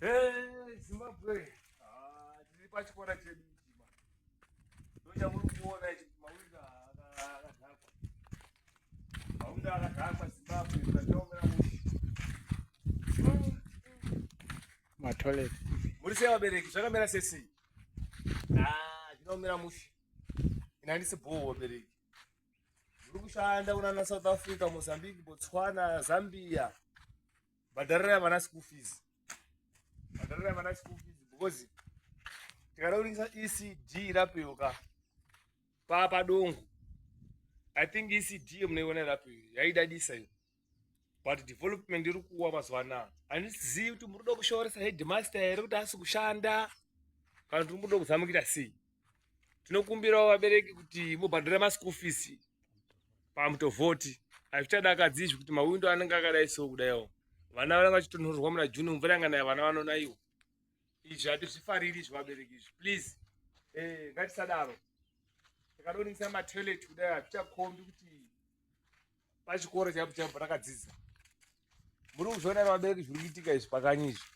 Hey, Zimbabwe. Ah, tiri pachikora chedu ichi ma. Ndochakuri kuona ichi mawinda akadhakwa. Mawinda akadhakwa Zimbabwe zvakaomera mushi. Ma toilet. Muri sei vabereki zvakamera sesi? Ah, zvinoomera mushi. Ina ndisi bhoo vabereki. Muri kushanda kunana South Africa, Mozambique, Botswana, Zambia. bhadharirai vana school fees bhadharirai vana school fees because tikada kuringisa ecd rapeuka papa dongo i think ecd yemunoiona irapeyo yaidadisa iyo but development iri kuwa mazuva anaya handizivi kuti muri kuda kushooresa headmaster here kuti asi kushanda kana kuti muri kuda kuzamukira sei tinokumbirawo vabereki kuti mubhadhara maschool fees pamutovhoti hazvichadakadzi izvi kuti mawindo anenge akadai so kudaiwo vana vanenge vachitonhorerwa muna june mvura yanganaya vana vanonaiwo izvi hatizvifariri izvi vabereki izvi please eh, ngatisadaro tikadoningisa matoilet kudai hazvichakombi kuti pachikoro chaipo chaipo rakadzidza muri kuzviona vabereki zviri kuitika izvi pakanyi izvi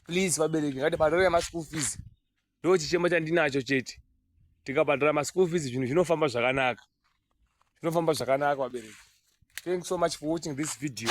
please vabereki ngatibhadhare maschool fees ndo chichemo chandinacho chete tikabhadhara maschool fees zvinhu zvinofamba zvakanaka zvinofamba zvakanaka vabereki thanks so much for watching this video